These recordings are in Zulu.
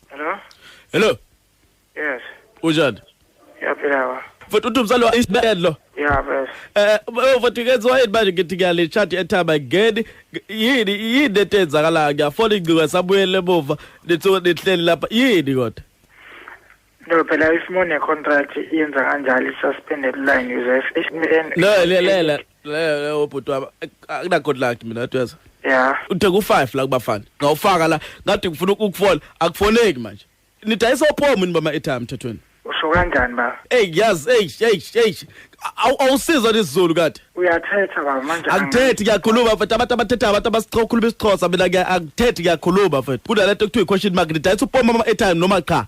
Hello? Hello. Yes. Unjani? Yaphila wa. Futhi uthi umzali wa isibedlo. Yeah, best. Eh, eh, futhi kenziwa yini manje ngithi ngiyale chat ethaba ngeni yini yini etenzakala ngiyafona ingciwa sabuyele emuva nithiwe nihleli lapha yini kodwa. No phela if mone contract yenza kanjalo i-suspended line user if if No le le le le ubhuti wami akuna good luck mina tweza. Yeah. Uthe ku 5 la kubafana. Ngawufaka la ngathi ngifuna ukufona akufoneki manje. Nidayisa ophomo ni bama etime mthethweni. Usho kanjani ba? Hey yaz hey hey hey awusiza lesiZulu kade uyathetha baba manje akuthethi ngiyakhuluma futhi abantu abathetha abantu abasikhuluma isiXhosa mina akuthethi ngiyakhuluma futhi kunalento kuthiwa i-question mark nidayisa upoma ama-airtime noma cha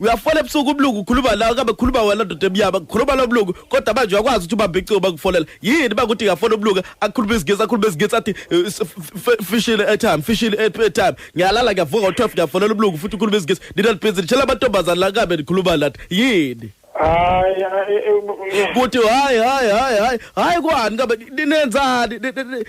uyafola ebusuku ubulungu ukhuluma lawo kabe khuluma wena ndoda emnyama khuluma lo bulungu kodwa manje uyakwazi ukuthi ubambe icingo bakufolela yini bakuthi ngafona ubulungu akhuluma izingisi akhuluma izingisi athi eh, s- f- f- fishile airtime fishile air- airtime ngiyalala ngiyavuka ngo-12 ngiyafonela ubulungu futhi ukhuluma izingisi nina nibhizi nitshela amantombazane la kabe nikhuluma lathi yini hayi hayi, eh, eh, kuthi hayi hayi hayi hayi hayi kwani kabe ninenzani Ni- ni- ni-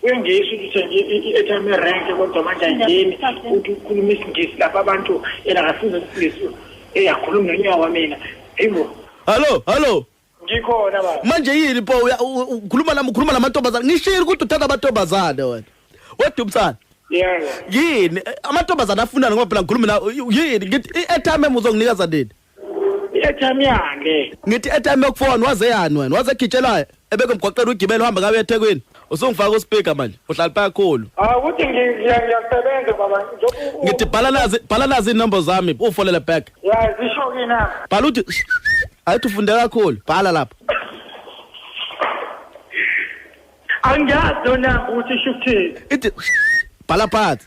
kuyangiyisa ukuthi uthenge i-airtime erenke kodwa manje angeni ukuthi ukhuluma isingisi lapha abantu yena akafuni usizo eyakhuluma nonyaka wamina eyibo hallo hallo ngikhona baba manje yini po ukhuluma nami ukhuluma namantombazane ngishile ukuthi uthanda amantombazane wena wedwa umsana yini amantombazane afunani ngoba phela ngikhuluma na yini ngithi i-airtime uzonginikeza nini i-airtime yakhe ngithi i-airtime yokufona waze yani wena waze egitshelayo ebeke mgoqela ugibela uhamba ngabe ethekwini usungifaka uspika manje uhlala phakhulu ah ukuthi ngiyasebenza baba ngithi bhala nazi bhala nazi inombo zami ufolele back ya zisho kina bhala uthi ayithi ufunde kakhulu bhala lapha angiyazi yona ukuthi isho ukuthini ithi bhala phansi